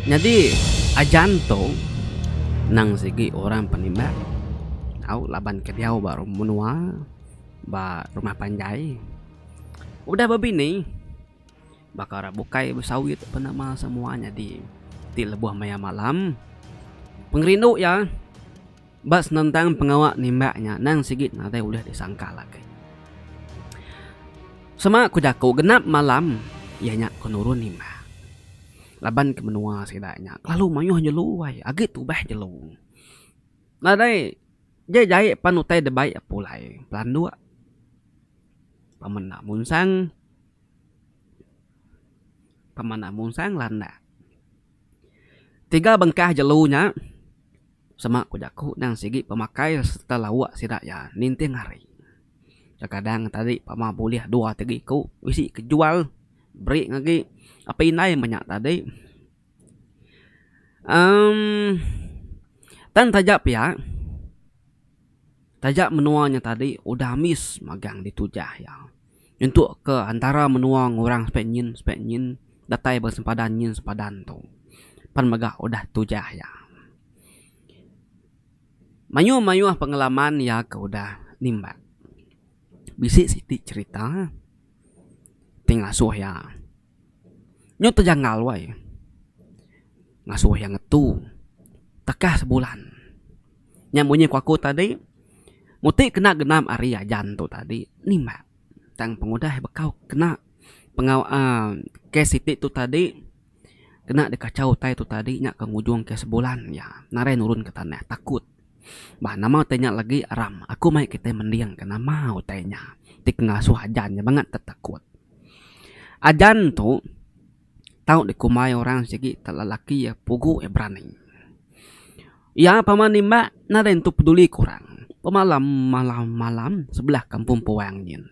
Nyadi ajan tu nang sigi orang penimbat au laban ke diau ba menua ba rumah panjai udah bebini baka ra bukai besawit pen nama semua nyadi ti lebuh maya malam pengerindu iya. ba senentang pengawa nimbak nya endang sigi nadai ulih disangkal agi. Sema ku jaku genap malam iya nya ke nurun nimbak laban ke menua sida nya kelalu mayuh jelu ai agi tubah jelu. Nadai je jai pan utai dep bai pulai pelanduk pemenda munsang pemenda munsang landak. Tiga bengkah jelu nya sema ku jaku endang sigi pemakai sereta lawa sida iya ninting hari. Kekadang tadi pama bulih dua ti iku bisi ke jual beri ngagi apai indai inya menya tadi emm tan taja pia. Taja menua nya tadi udah ambis magang ditu jah iya. Nyentuk ke antara menua ngurang spek nyin spek nyin datai ba sempadan nyin sempadan tu. Pan mega udah tujah iya. Mayuh mayuh pengalaman iya ke udah nimba. Bisi siti cherita ti ngasuh iya. Nyu tejangal wai ngasoh iya ngetu tekah sebulan nya munyi ku aku tadi mung ti kena genap ari ajan tu tadi nimbak tang pengudah bekau kena pengau uhh kes siti tu tadi kena dikachau utai tu tadi nya akan ngujung ke sebulan iya narai nurun ke tanah takut. Bah nama utai nya lagi ram. Aku mai kitai mending ka nama utai nya ti pengasuh ajan nya bangat tetakut. Ajan tu tau dikumbai orang sigi te lelaki iya pugu iya berani. Iya pama nimbak nadai entu peduli ke orang. Pemalam malam malam sebelah kampung puang nyin.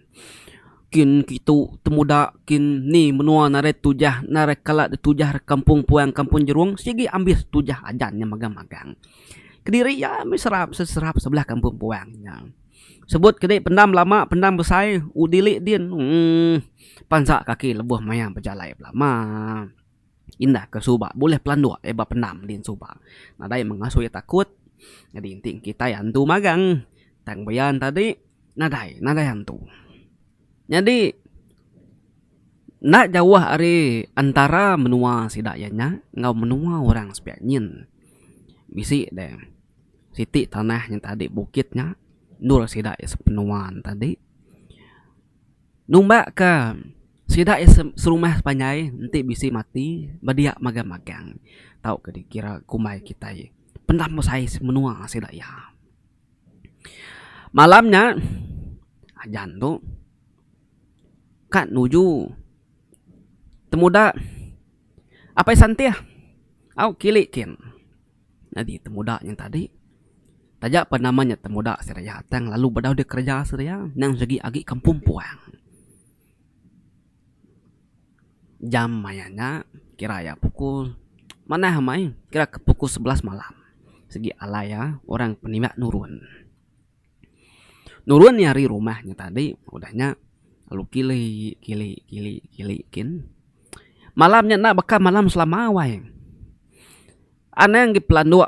Kin kitu temuda kin ni menua nadai tujah nadai kala ditujah kampung puang kampung jeruong sigi ambis tujah ajan nya megang megang. Kediri iya meh serap seserap sebelah kampung puang nya. Sebut ke dih pendam lama pendam besai udili din uhh pansa kaki lebuh maya bejalai belama indah ke suba bulih pelanduk iya ba pendam din suba nadai mengasu iya takut nyadi enti kitai antu magang tang beyan tadi nadai nadai antu. Nyadi. Enda jauh ari entara menua sida iya nya enggau menua orang sepiak nyin. Bisi deh siti tanah nya tadi bukit nya endur sida iya sepenua ne tadi. Numba ke sida iya serumah sepanjai enti bisi mati bedia magang magang tau ke dikira kumbai kitai pendam besai menua sida iya. Malam nya ajan tu. Kad nuju. Temuda apai santih au kili kin. Nyadi temuda nya tadi taja pa nama nya temuda Seria tang lalu bedau dep kereja Seria nang segi agi kampung puang. Jam maya nya kira iya pukul manah amai kira ke pukul sebelas malam segi alai iya orang penimba nurun. Nurun iya ari rumah nya tadi, udah nya lalu kili kili kili kili kin. Malam nya enda baka malam selama wai. Anang agi pelanduk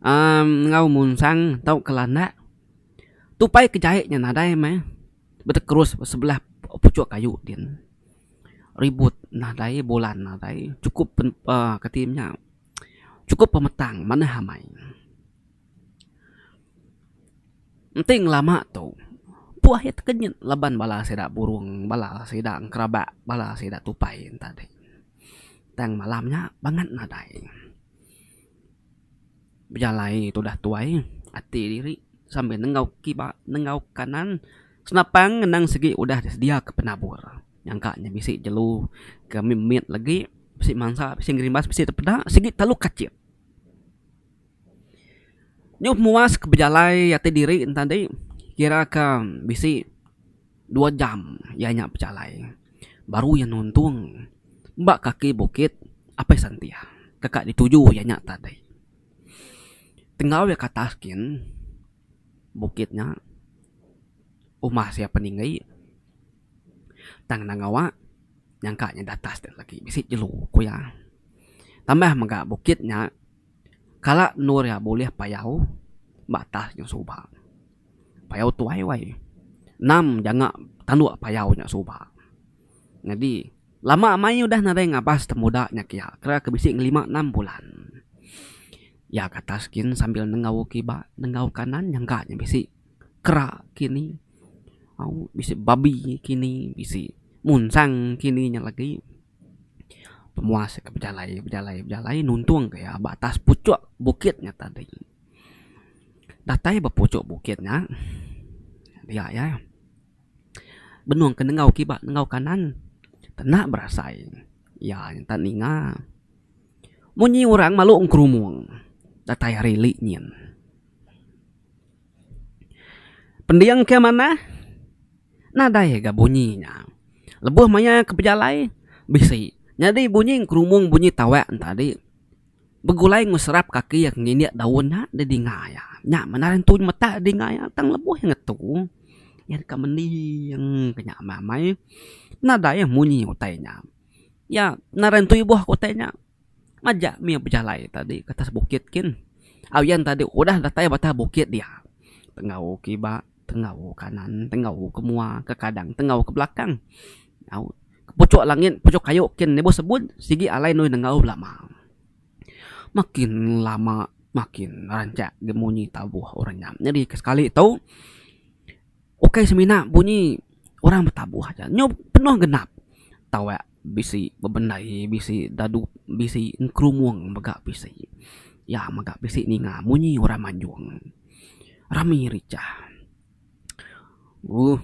amm enggau munsang tau ke landak. Tupai ke jai nya nadai meh betekrus ba sebelah puchuk kayu din. Ribut nadai, bulan nadai, chukup pen aaa kati nya, chukup pemetang manah amai. Enti ngelama tu puah iya tekenyit laban bala sida burung bala sida engerabak bala sida tupai enta deh. Tang malam nya bangat nadai bejalai tudah tuai ati diri sambil nengau kiba nengau kanan senapang ngenang segi udah sedia ke penabur nyangka ne bisi jelu ke mit mit legi bisi mansa bisi ngerimbas bisi te peda sigi telu kachit. Nyuh muas ke bejalai ati diri ne tadi kira ka bisi dua jam iya nya bejalai baru iya nuntung ba kaki bukit Apai Santia teka dituju iya nya tadi. Enggau iya ke atas gin bukit nya umbas iya peninggi tang enda ngawa nyangka iya da atas lagi bisi jelu ku iya. Tambah mega bukit nya. Kala endur iya bulih payau ba atas nyau suba. Payau tuai wai. Enam janga tanduk payau nya suba. Nyadi lama mai udah nadai ngabas temuda nya kiya kira ke bisi ngelima enam bulan. Iya ke atas gin sambil nenggau kiba nenggau kanan nyangka nya bisi kera kini au bisi babi kini bisi munsang kini nya lagi. Pemuas ke bejalai bejalai bejalai nuntung ke iya ba atas pucuk bukit nya tadi. Datai ba pucuk bukit nya dia iya benung ke enggau kiba enggau kanan kena berasai iya enta ninga. Munyi orang malu ngerumung datai ari li nyin. Pending ke manah nadai ga bunyi nya. Lebuh maya ke pejalai bisi nyadi bunyi kerumung bunyi tawak ne tadi begulai ngeserap kaki iya ke ngindik daun nya di dinga iya. Nya mene ari ntu meta di dinga iya tang lebuh iya ngetu iya deka mending ke nya amai amai nadai munyi utai nya. Nya ngaran ntu ibuh ke utai nya. Majak mih bejalai tadi ke atas bukit kin. Au yan tadi udah datai ba atas bukit dia. Tenggau ke iba, tenggau ke kanan, tenggau ke mua, ke kadang, tenggau ke belakang. Au pucuk langit, pucuk kayu kin lebuh sebut sigi alai nuih nenggau belama. Makin lama makin rancak gemunyi tabuh orang nya. Nyadi ke sekali tu. Ukai semina bunyi orang betabuh aja nyu penuh genap tawak bisi bebendai bisi dadu bisi ngerumung mega bisi ya mega bisi ninga bunyi orang manjung rami richah uh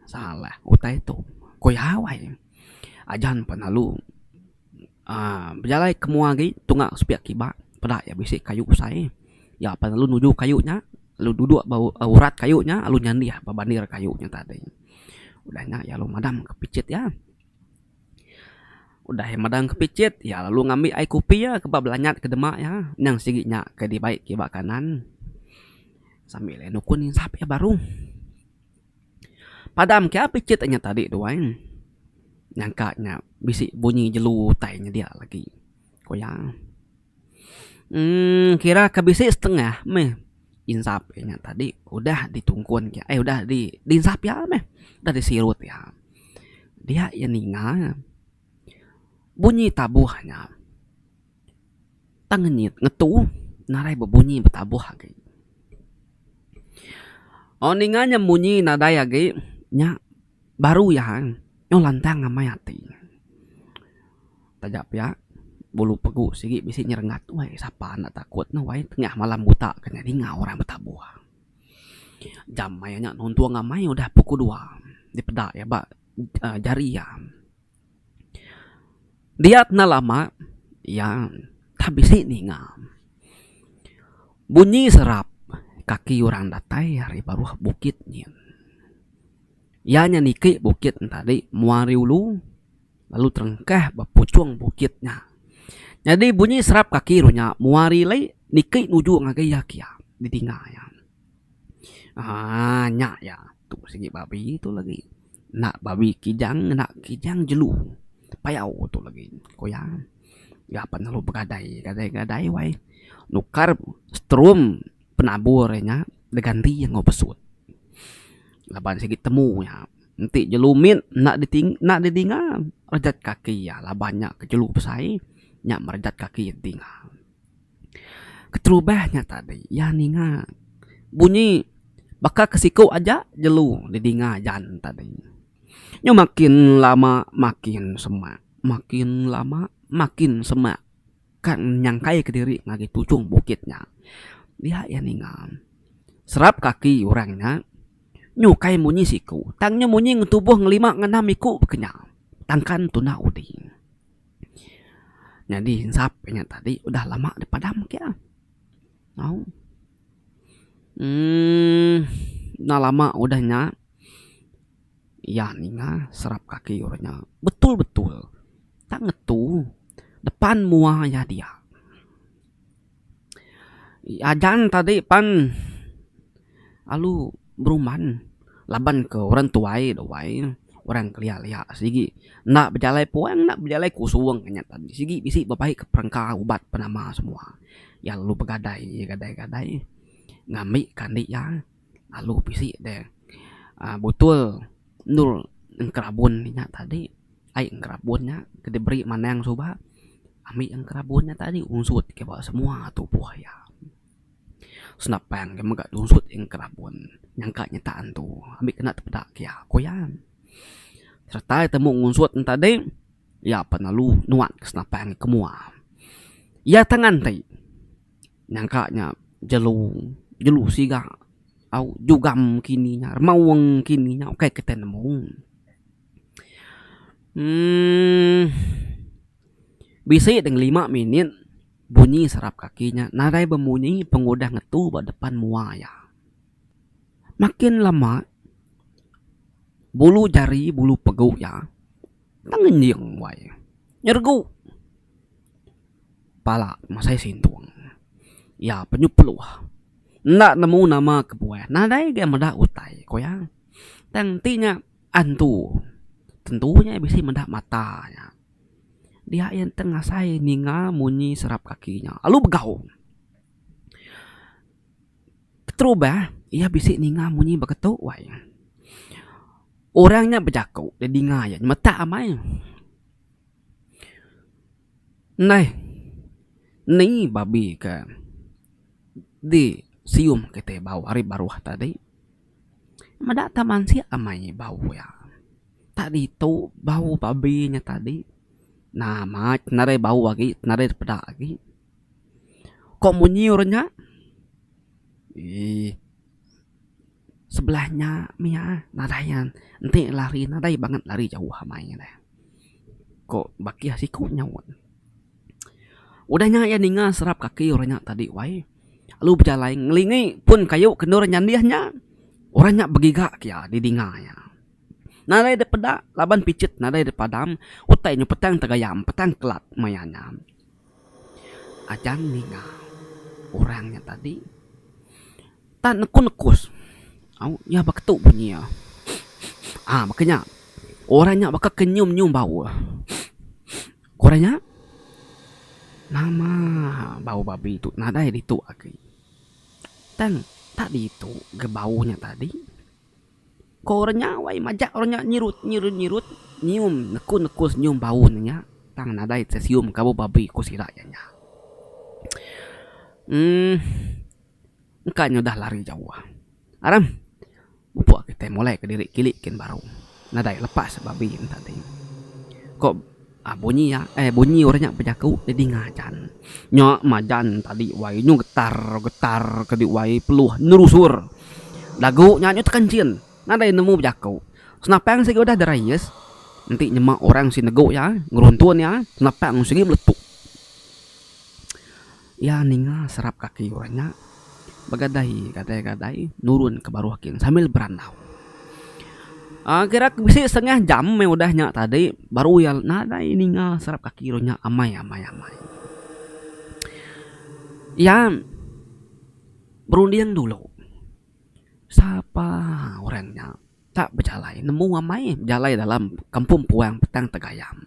salah utai tu ku iya awai ajan pelalu. Bejalai ke mua agi tunga sepiak kiba peda iya bisi kayu besai iya apai lalu nuju kayu nya lalu dudok ba urat kayu nya lalu nyandih ba bandir kayu nya tadi udah nya iya lalu madam ka picit iya udah iya madam ka picit iya lalu ngambi ai kopi iya ke ba belanyat ka dema iya nyang sigi nya ke dibai ke ba kanan sambil iya nukun insap iya baru. Padam ke ap ichet inya tadi tu ai. Nyangka nya bisi bunyi jelu utai nya dia lagi. Ku iya. uhh kira ke bisi setengah meh insap inya tadi udah ditungkun ke ai udah di insap iya meh. Udah disirut iya. Dia iya ninga. Bunyi tabuh nya tang ngenyit ngetu nadai bebunyi betabuh agi. Aaa ninga nya munyi nadai agi nya baru iya nyau lantang amai ati. Taja pia bulu pegu sigi bisi nyerengat wei sapa enda takut ne wei tengah malam buta ke nya ninga orang betabuh. Jam maya nya nuntung amai udah pukul dua dipeda iya ba. jari iya. Dia kena lama iya tang bisi ninga bunyi serap kaki orang datai ari baruh bukit nyin. Iya nya niki bukit nya tadi mua ari ulu lalu terengkah ba puchung bukit nya. Nyadi bunyi serap kaki ru nya mua ari lei niki nuju ngagai iya kiya didinga iya. Haa nya ya tu sigi babi tu legi enda babi kijang enda kijang jelu payau tu legi ku iya ga pe lalu begadai gadai gadai wai nukar strum penabur iya nya diganti enggau besut laban sigi temu iya enti jelu mit enda diting enda didinga rejat kaki iya laban nya ke jelu besai nya merejat kaki dinga. Keterubah nya tadi iya ninga bunyi baka ke siku aja jelu didinga Jan tadi. Nya makin lama makin semak, makin lama makin semak kan nyangkai ke diri ngagai tujung bukit nya. Dia iya ninga serap kaki orang nya nyukai munyi siku tang nya munyi ngetubuh ngelima ngenam iku ke nya tangkan tuna uding. Nyadi ensap inya tadi udah lama dipadam agi ah. Au uhh enda lama udah nya iya ninga serap kaki orang nya betul betul tak ngetu depan mua iya dia. Agan tadi pan alu beruman laban ke orang tuai da wai orang kelia lia sigi enda bejalai puan enda bejalai kusung inya tadi sigi bisi bebai ke perengka ubat penama semua iya lalu begadai gadai gadai ngambi ke andi iya. Lalu bisi deh botol endur enkerabun inya tadi ai enkerabun nya ke diberi manang suba ami enkerabun nya tadi ungsup ke ba semua tubuh iya senapang ke mega ungsup enkerabun nyangka nyetak antu ami kena tepeda ke iya ku iya sereta temu ungsup nya tadi iya pa lalu nuan senapang ke mua iya tangan ti. Nyangka nya jelu jelu siga au jugam kini nya rema wong kini nya ukai ke tai nemu uhh bisi deh ngelima minit bunyi serap kaki nya nadai bemunyi pengudah ngetu ba depan mua iya. Makin lama bulu jari bulu pegu iya tengenying wai nyeregu. pala masai sintung iya penyup peluh enda nemu nama kebuah nadai ga meda utai ku iya tang ti nya antu tentu nya bisi meda mata nya dia iya nteng asai ninga munyi serap kaki nya lalu begau keterubah iya bisi ninga munyi beketu wai orang nya bejaku dia dinga iya metak amai. Neh ni babi ke di sium kite bau ari baruh tadi. Meda ta mansik amai bau iya. Tak ditu bau babi nya tadi. Nah mat nadai bau agi nadai peda agi. Ko munyi orang nya eeh. Sebelah nya mia nadai iya enti lari nadai banget lari jauh amai nya deh ko bakih siko nyaut. Udah nya iya ninga serap kaki orang nya tadi wai lalu bejalai ngelingi pun kayu ke endur nyandih nya orang nya begiga ke iya di dinga iya. Nadai dep peda laban pichet nadai dep padam utai nya petang tegayam petang kelat maya nya. Ajang ninga orang nya tadi tan nekus-nekus au iya baka tu bunyi iya. Aa baka nya orang nya baka ke nyium-nyium bau iya. Orang nya nama bau babi tu nadai ditu agi. Tang tak ditu ga bau nya tadi. Ko orang nya wai majak orang nya nyirut nyirut nyirut nyium nekun nekun senyum bau ne nya tang nadai tesium kabu babi ku sida iya nya. Emm engka nya udah lari jauh aram pupuk kitai molai ke diri kilik kin baru nadai lepas babi yen tadi ko. Ah bunyi iya eh bunyi orang nya bejaku jadi ngajan. Nya majan tadi wai nyu getar getar ke di wai peluh nerusur. Lagu nya nyu tekenchin nadai nemu bejaku. Senapang sigi udah derais enti nyema orang sigi negu iya ngeruntun iya senapang sigi meletup. Iya ninga serap kaki orang nya begadai gadai-gadai nurun ke baruh kin sambil berandau. Aaa kira ke bisi setengah jam meh udah nya tadi baru iya nadai ninga serap kaki orang nya amai amai amai. Iya berunding dulu sapa orang nya. Ka bejalai nemu amai bejalai dalam kampung puang petang tegayam.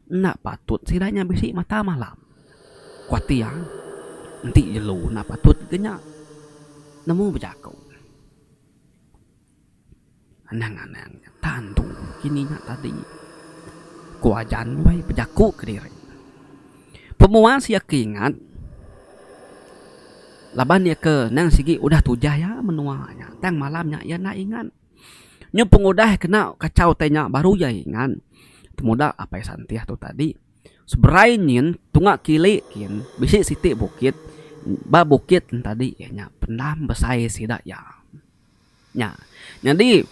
Enda patut sida nya bisi mata malam. Ku ati iya, enti jelu enda patut ke nya nemu bejaku. Anang anang nya tantu kini nya tadi. Ku ajan uih bejaku kediri. Pemuas iya ke ingat laban iya ke endang sigi udah tujah iya menua nya tang malam nya iya enda ingat. Nyuh pengudah kena kachau tai nya baru iya ingat temuda Apai Santih tu tadi seberai nyin tunga kili kin bisi siti bukit ba bukit ntadi iya nya pendam besai sida iya. Nya. Nyadi,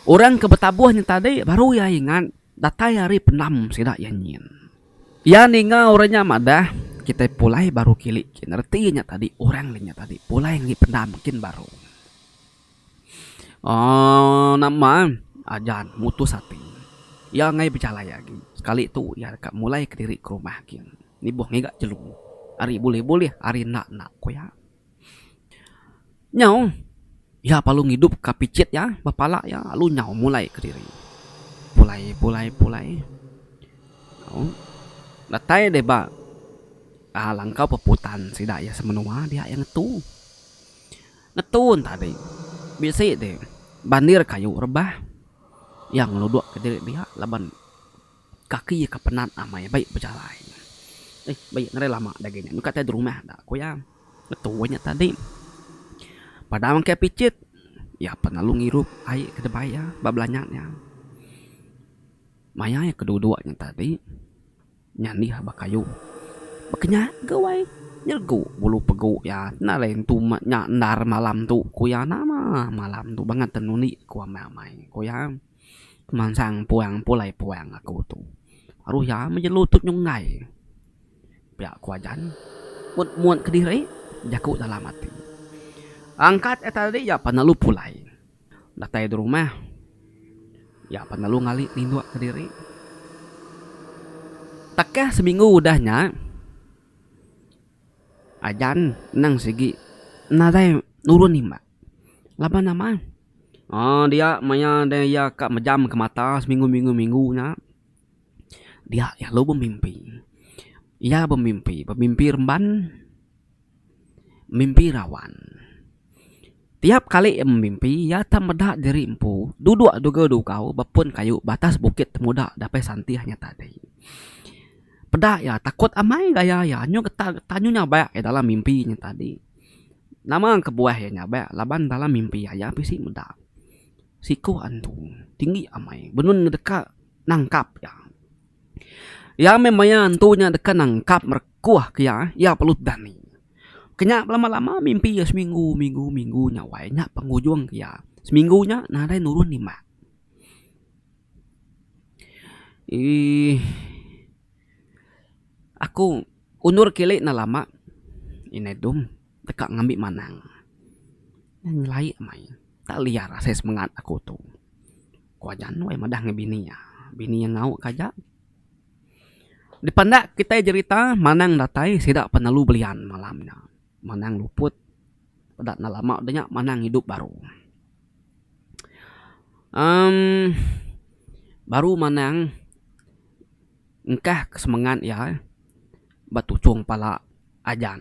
orang ke betabuh nya tadi baru iya ingat datai hari pendam sida iya nyin. Iya ninga orang nya madah, Kitai pulai baru kilik kin. Reti nya tadi, orang nya nya tadi pulai ngi pendam kin baru. Aaa nama Ajan mutus ati. Iya enggai bejalai agi. Sekali tu iya deka mulaika diri ke rumah kin. Nibuh ngiga jelu. Ari bulih-bulih, ari enda-enda, ku iya. Nyau iya perlu ngidup ka pichit iya ba pala iya lalu nyau mulai kediri pulai pulai pulai au datai deh ba aa langkau peputan sida iya semenua dia iya ngetu. Ngetu ne tadi bisi deh bandir kayu rebah iya ngeluduk kediri dia laban. Kaki iya ke penat amai bai bejalai. Eih, ba iya ngarai lama dagi nya nyungkak tai derumah enda ku iya. Ngetui nya tadi. Padang engkai picit, iya pan lalu ngirup ai ke debai iya ba belanyat iya. Maya iya keduduk nya tadi, nyandih ba kayuh. Baka nya ke wai, nyeregu bulu pegu iya. Enda alai entu ma nya endar malam tu ku iya. Nama malam tu bangkang tenuni ku amai-amai ku iya. Kemansang puang pulai puang aku tu. Aruh iya meh jelu tu nyunggai. Pia ku ajan mut mut kediri jaku dalam ati. Angkat iya tadi iya pan lalu pulai datai di rumah. Iya pan lalu ngali ninduk kediri. Takah seminggu udah nya ajan nang sigi nadai nurun imbak. Laban nama? Aaa dia maya deh iya ka mejamka mata seminggu minggu minggu nya dia lalu bemimpi. Iya bemimpi, bemimpi remban, mimpi rawan. Tiap kali iya bemimpi iya akan meda diri empu duduk ngagai dugau ba pun kayu ba atas bukit temuda dapih santih nya tadi. Peda iya takut amai gaya iya nyu getah getah nyu nyabai iya dalam mimpi nya tadi. Nama kebuah iya nya ba laban bala mimpi aya bisi meda siku antu tinggi amai benun deka nangkap iya. Iya meh maya antu nya deka nangkap merekuh ke iya, iya perlu berani. Ke nya lama lama mimpi iya seminggu minggu minggu nya awai nya pengujung ke iya. Seminggu nya nadai nurun nima. Ii aku. Undur kili enda lama indai dum deka ngambi manang. Nyelai meh ai enda liar asai semengat aku tu. Ku aja anu ai madah ngan bini iya. Bini iya ngau ka aja. Dipenda kitai jerita manang datai sida penelu belian malam nya. Manang luput peda enda lama deh nya manang idup baru. uhh baru manang. Engkah ke semengat iya betuchong pala ajan.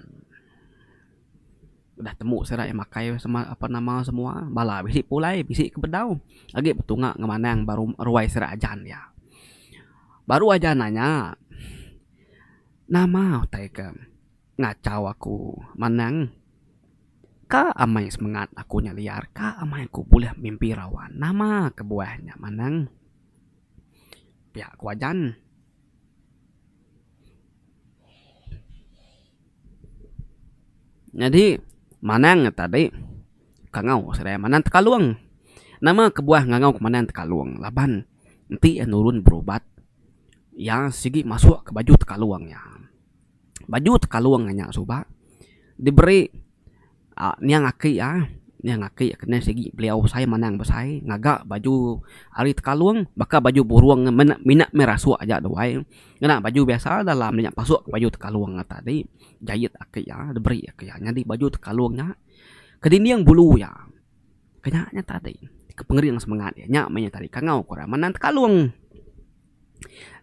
Udah temu sida iya makai ape nama semua bala bisi pulai bisi ke bedau agi betunga ngemanang ba ruai sida ajan iya. Baru ajan iya nya nama utai ke ngachau aku manang ka amai semengat aku nya liar ka amai aku buleh mimpi rawa nama kebuah nya manang. Pia ku ajan. Nyadi manang ne tadi kangau serai manang tekalung. Nama kebuah ngangau ku manang tekalung laban enti iya nurun berubat iya sigi masuk ke baju tekalung iya. baju tekalung aja nya suba diberi niang aki iya, niang aki iya kena sigi beliau besai manang besai ngaga baju ari tekalung baka baju burung mene mina meh rasuk aja tu ai ngena baju biasa dalam nya pasuk ka baju tekalung nya tadi jait aki iya diberi aki iya nyadi baju tekalung nya ke dinding bulu iya ke nya nya tadi ke pengering semengat iya nya meh nya tadi kangau ku orang manang tekalung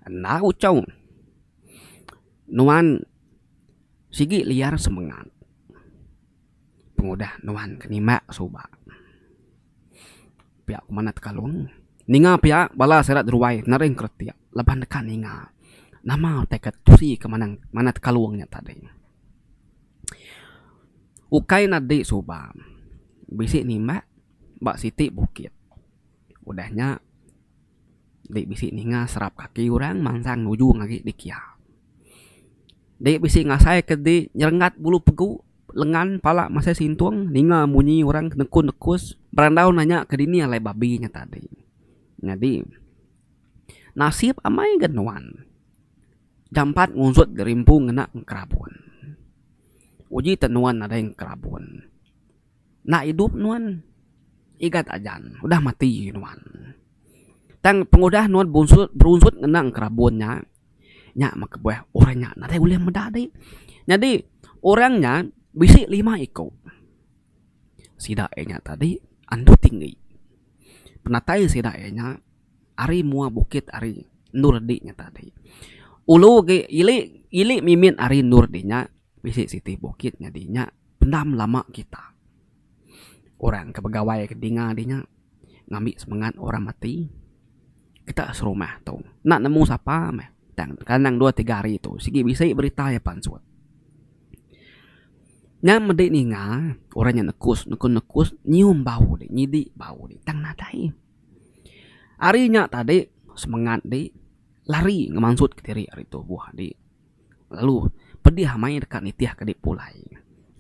enda uchau. Nuan sigi liar semengat pengudah nuan ke nimbak suba pia ku manah tekalung ninga pia bala sida ruai nering kretek laban deka ninga nama utai ka tusi ke manang manah tekalung nya tadi. Ukai ne adi suba bisi nimbak ba siti bukit udah nya Dek bisi ninga serap kaki orang mansang ujung agi di kia. Dek bisi ngasai ke di nyerengat bulu pegu lengan pala masai sintung ninga munyi orang nekun nekus berandau nanya ke dini alai babi nya tadi. Nyadi nasib amai ga nuan jampat ngusut gerimpu ngena engkerabun. Uji te nuan nadai engkerabun. enda idup nuan igat aja udah mati nuan tang pengudah nuan bunsut berunsut ngenang kerabun nya nya meh kebuah orang nya nadai ulih meda deh nyadi orang nya bisi lima iko sida iya nya tadi andu tinggi penatai sida iya nya ari mua bukit ari endur dik nya tadi ulu agi ili ili mimit ari endur dik nya. Bisi siti bukit nyadi nya pendam lama kita. Orang ke begawai ke dinga di nya ngambi semengat orang mati kita serumah tu enda nemu sapa meh tang kandang dua tiga hari tu sigi bisi berita iya pansut. Nya medi ninga orang nya nekus neku nekus nyium bau di nyidi bau di tang nadai. Hari nya tadi semengat di lari ngemansut kediri hari tu buah adi. Lalu, pedih maya deka nitihka diri pulai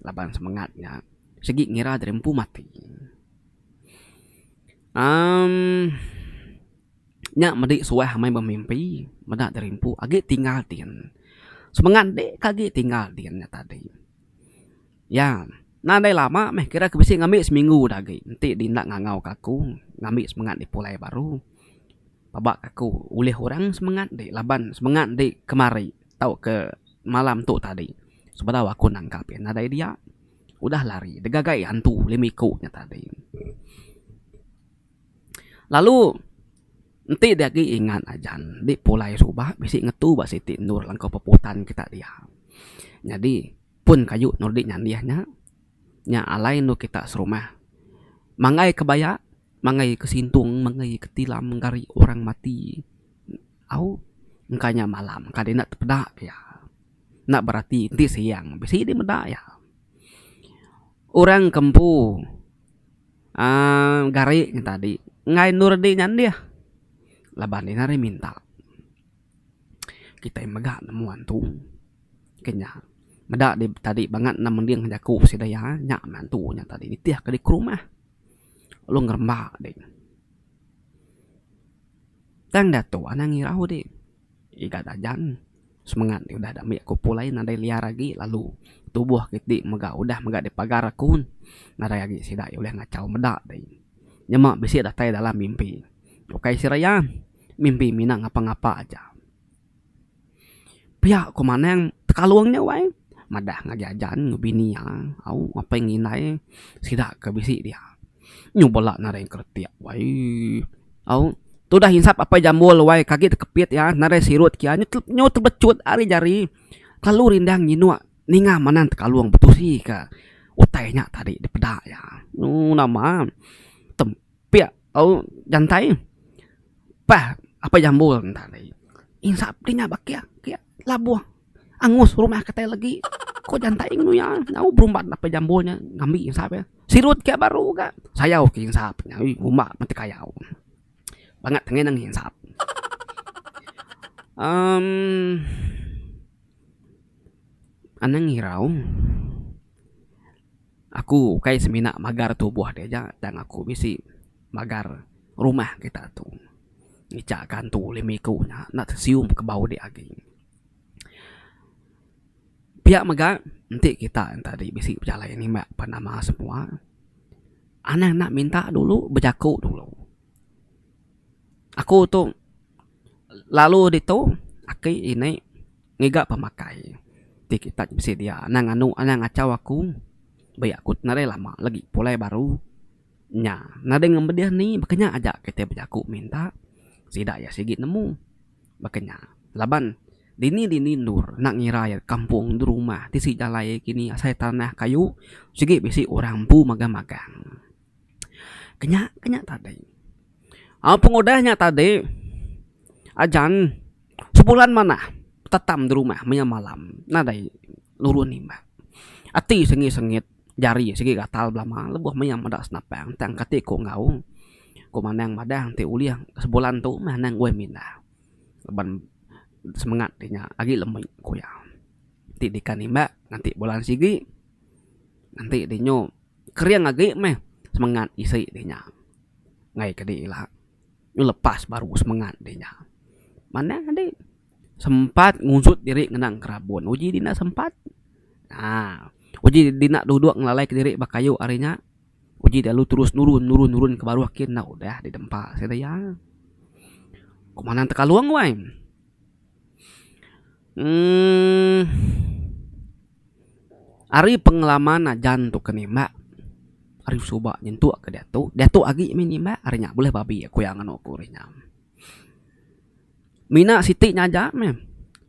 laban semengat nya sigi ngira diri empu mati. Aum, nya medi suah amai bemimpi meda diri empu agi tinggal din. Semengat deka agi tinggal din nya tadi. Iya, nadai lama meh kira ke bisi ngambi seminggu dah agi enti di enda ngangau ka aku ngambi semengat di pulai baru pebak aku ulih orang semengat di laban semengat di kemari tau ke malam tu tadi sebedau aku nangkap iya nadai dia udah lari digaga iya hantu lima iku nya tadi. Lalu enti dia agi ingat ajan di pulai suba bisi ngetu ba siti endur langkau peputan kita dia. Nyadi. Pun kayu Nordi nyandih nya, nya alai endu kita serumah. Manggai kebaya, manggai ke sintong, manggai ke tilam mengari orang mati. Au, engka nya malam ka dei enda tepeda pia. Enda berati enti siang bisi dei meda iya. Orang ke empu uhh gari nya tadi enggai Nordi nyandih laban iya ngagai minta. kitai mega nemu antu ke nya meda di tadi bangat enda mending jaku sida iya nya meh antu nya tadi nitih ke diri ke rumah lalu ngeremba deh. Tang diatu anang irau di iga dajan semengat ne udah ambi aku pulai nadai liar agi lalu tubuh kiti mega udah mega dipagar aku nadai agi sida ulih ngachau meda deh. Nyema bisi datai dalam mimpi ukai sida iya. Mimpi mina ngapa-ngapa aja. Pia ku manang tekalung nya wai madah ngagai ajan enggau bini iya au ngapai enggau indai sida ke bisi dia. Nyu bala naring kretek wai au tudah insap apai jambul wai ke agi tekepit iya naring sirut ke iya nyu tebecut ari jari kelalu rindang nyinuk ninga manang tekalung betusi ka utai nya tadi dipeda iya. Nyu nama tem. Pia au jantai pah apai jambul enda alai insap ti nya ba kiak kiak labuh angus rumah ke tai legi ko jantai ngen uya nyau berumban apai jambul nya ngambi insap e sirut ke baru ga sayau ke insap nya oi uma mati kayau bangat ange nang insap um anang irau. Aku ukai semina magar tubuh ti aja tang aku bisi magar rumah kita tu. Ngicha kantu lime iku nya enda tesium ke bau dek agi. Pia mega enti kita tadi bisi pejalai nimbak pen nama semua anang enda minta dulu bejaku dulu. Aku tu lalu ditu aki ini Ngiga pemakai ti kita ti besedia anang anu anang ngachau aku beri aku ti nadai lama lagi pulai baru nya nadai ngemedih ni baka nya aja kitai bejaku minta sida iya sigi nemu baka nya laban dini dini endur enda ngira iya kampung endur rumah tisi jalai kini asai tanah kayu sigi bisi orang empu magang magang. Ke nya ke nya tadi. Au pengudah nya tadi ajan sebulan manah tetam di rumah maya malam nadai nurun imbah. Ati sengit sengit jari sigi gatal belama lebuh maya meda senapang tang kati ku enggau ku manang madah enti ulih sebulan tu meh anang weh mindah laban semengat ti nya agi lemi ku iya. Ti dikan imbak ngati bulan sigi ngenti dinyo. Kering agi meh semengat isi deh nya enggai ke deh ila nyu lepas baru semengat deh nya manah agi sempat ngujut diri ngenang kerabon uji di enda sempat aaa uji di enda duduk ngelalai ke diri ba kayu ari nya uji lalu terus nurun nurun nurun ke baruh kin enda udah di dempa se daya ku manah tekalong wai emm. Ari pengelama najan tu ke nimba ari suba nyentuk ke diatu diatu agi mih nimba ari nya bulih babi aku iya nganu aku ari nya. Mina siti nya aja meh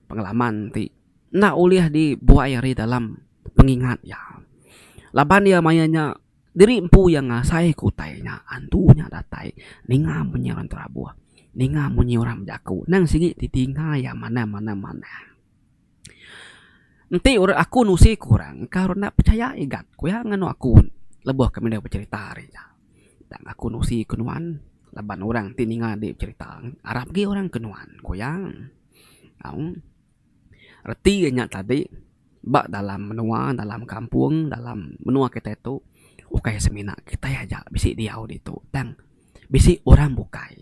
pengalaman ti enda ulih dibuai ari dalam pengingat iya laban iya maya nya diri empu iya ngasai ke utai nya antu nya datai ninga munyi orang terabuh ninga munyi orang bejaku nang sigi ti tinga iya manah manah manah. Enti orang aku nusi ku orang ka orang enda pechaya igap ku iya nganu aku lebuh kami dau becerita ari nya. Tang aku nusi ku nuan laban orang ti ninga di becerita arap agi orang ke nuan ku iya. Au reti iya nya tadi ba dalam menua dalam kampung dalam menua kita tu ukai semina kitai aja bisi diau ditu tang. bisi orang bukai.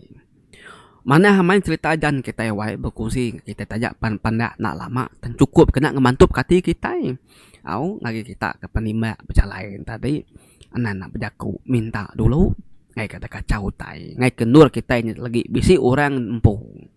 Manah main serita Jan kitai wai berkongsi enggau kitai taja pan panda enda lama tang chukup kena ngemantupka ati kitai. Au ngagai kita ke penimba bejalai nya tadi enda nak bejaku minta dulu ngaika deka kachau utai ngaika endur kitai legi bisi orang empu.